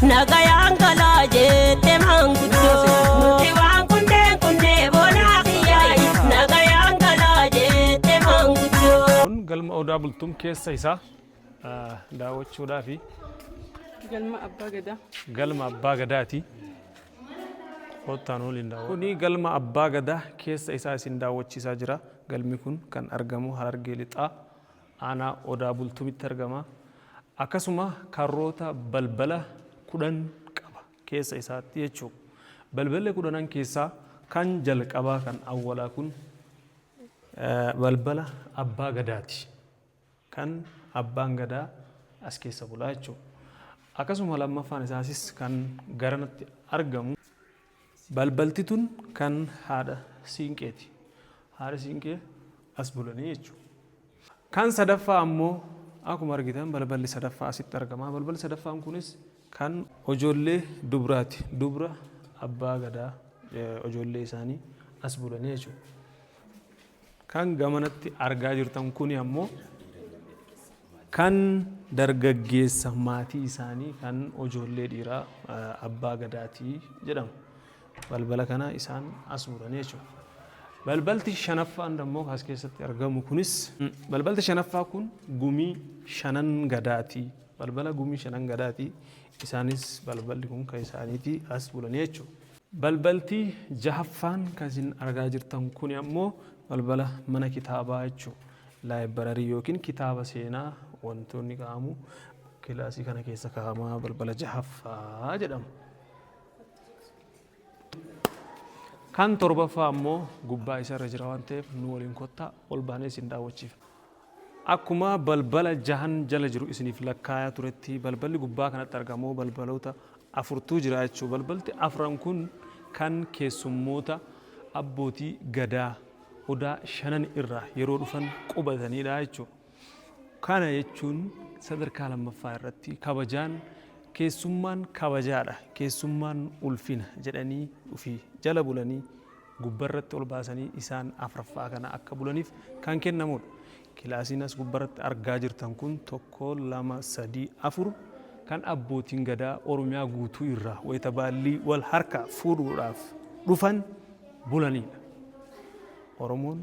Nagayaan galaa jette maanguddoo. Nuti waan kunneen kunnee boonaa kiyyaayi. Nagayaan galaa jette maanguddoo. Kun galma Odaa Bultum keessa isaa ah, daawwachuudhaafi Galma Abbaa Gadaa. galma Abbaa Gadaati. Koottaan waliin daawwadha. Kuni galma Abbaa Gadaa keessa isaa isin daawwachiisaa jira. Galmi kun kan argamu Harargee Lixaa Aanaa Odaa Bultumitti argama. Akkasuma karroota balbala kudhan qaba keessa isaatti jechuu. Balballi kudhanan keessaa kan jalqabaa kan awwalaa kun balbala abbaa gadaati. Kan abbaan gadaa as keessa bulaa jechuudha. Akkasuma lammaffaan isaasis kan garanatti argamu Balbalti tun kan haadha Siinqeeti. Haadha Siinqee as bulanii jechuudha. Kan sadaffaa ammoo akkuma argitan balballi sadaffaa asitti argama. Balballi sadaffaan kunis kan ijoollee dubraati. Dubra Abbaa Gadaa ijoollee isaanii as bulanii jechuudha. Kan gamanatti argaa jirtan kuni ammoo kan dargaggeessa maatii isaanii kan ijoollee dhiiraa abbaa gadaati jedhama. Balbala kana isaan as muranii jechuudha. Balbalti shanaffaan ammoo as keessatti argamu kunis balbalti shanaffaa kun gumii shanan gadaati. Balbala gumii shanan gadaati. Isaanis balballi kun kan isaaniiti as bulanii jechuudha. Balbalti jahaffaan kan isin argaa jirtan kuni ammoo balbala mana kitaabaa jechuu laayibararii yookiin kitaaba seenaa wantoonni ka'amu kilaasii kana keessa ka'amaa balbala jahaffaa jedhama. Kan torbaffaa ammoo gubbaa isarra jira waan ta'eef nu waliin kottaa ol baanee isin daawwachiifna. Akkuma balbala jahan jala jiru isiniif lakkaayaa turetti balballi gubbaa kanatti argamu balbaloota afurtu jira jechuudha. Balbalti afran kun kan keessummoota abbootii gadaa odaa shanan irraa yeroo dhufan qubatanidha jechuudha. Kana jechuun sadarkaa lammaffaa irratti kabajaan keessummaan kabajaadha keessummaan ulfina jedhanii dhufii jala bulanii gubbarratti ol baasanii isaan afraffaa kana akka bulaniif kan kennamudha. Kilaasiin as gubbarratti argaa jirtan kun tokko, lama, sadii, afur kan abbootiin gadaa Oromiyaa guutuu irraa wayita baallii wal harkaa fuudhuudhaaf dhufan bulanidha. Oromoon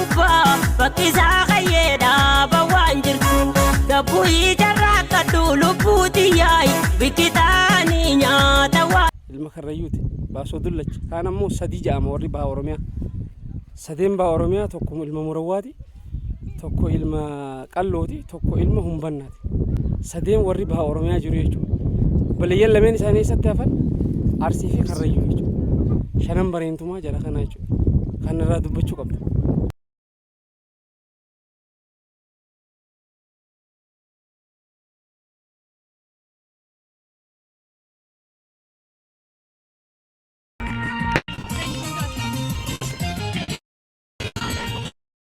gubbaa bakki isaa kayyee dhaaba waan jirtu gabbuu ijarraa akka duulubbuu tiyyaayi bikkitaanii nyaata waan. ilma karrayyuuti baasoo dullacha kaan ammoo sadii ja'ama warri baha oromiyaa sadeen baha oromiyaa tokko ilma murawwaati tokko ilma qallooti tokko ilma humbannaati. sadeen warri baha Oromiyaa jiru jechuudha. Obboleeyyan lameen isaanii eessatti hafan Arsii fi Karrayyuu jechuudha. Shanan bareentumaa jara kanaa jechuudha. Kan irraa dubbachuu qabda.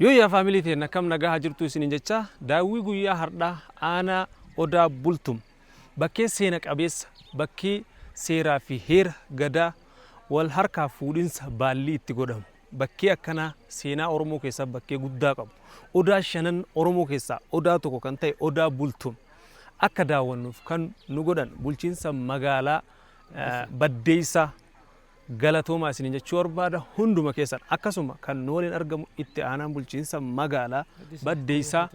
Yoo yaa faamilii teenna kam nagaa haa jirtuu isiniin jecha daawwii guyyaa hardhaa aanaa odaa bultum bakkee seena qabeessa bakkii seeraa fi heera gadaa wal harkaa fuudhinsa baallii itti godhamu bakkee akkanaa seenaa oromoo keessaa bakkee guddaa qabu odaa shanan oromoo keessaa odaa tokko kan ta'e odaa bultum akka daawwannuuf kan nu godhan bulchiinsa magaalaa eh, baddeessaa Galatoomaa isiniin jechuu barbaada hunduma keessan akkasuma kan nu waliin argamu itti aanaan bulchiinsa magaalaa Baddeessaa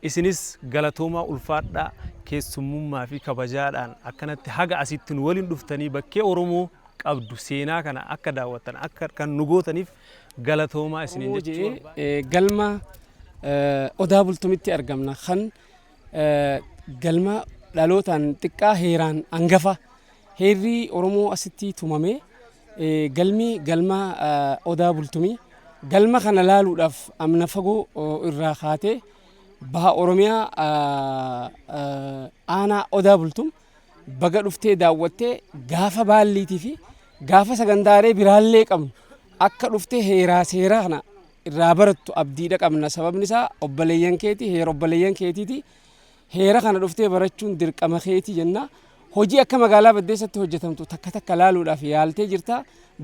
isinis galatoomaa ulfaadhaa keessummummaa fi kabajaadhaan akkanatti haga asitti nu waliin dhuftanii bakkee Oromoo qabdu seenaa kana akka daawwattan akka kan nu gootaniif galatoomaa isiniin jechuu barbaada. Galma Odaa Bultumitti argamna kan Galma dhalootaan xiqqaa heeraan angafa. Heerri Oromoo asitti tumame galmi galma Odaa Bultumi. Galma kana laaluudhaaf amna fagoo irraa kaatee baha Oromiyaa aanaa Odaa Bultum baga dhuftee daawwattee gaafa baalliitii fi gaafa sagantaalee biraallee qabnu akka dhuftee heeraa seeraa kana irraa barattu abdiidha qabna sababni isaa obboleeyyan keeti heera obboleeyyan keetiiti heera kana dhuftee barachuun dirqama keeti jenna hojii akka magaalaa baddeessatti hojjetamtu takka takka laaluudhaaf yaaltee jirta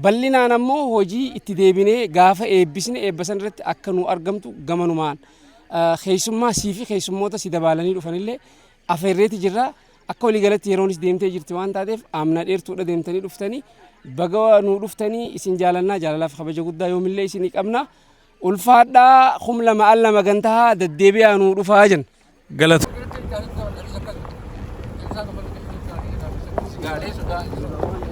bal'inaan ammoo hojii itti deebinee gaafa eebbisne eebba san irratti akka nu argamtu gamanumaan keessummaa sii fi keessummoota si dabaalanii dhufanillee afeerreeti jirra. Akka walii galatti yeroonis deemtee jirti waan taateef amna dheertuudha deemtanii dhuftanii baga nuu dhuftanii isin jaalannaa jaalalaaf kabaja guddaa yoomillee isinii qabna. Ulfaadhaa kum lama al lama gantahaa daddeebi'aa nuu dhufaa jenna. Galatu. Gaalee sodaa.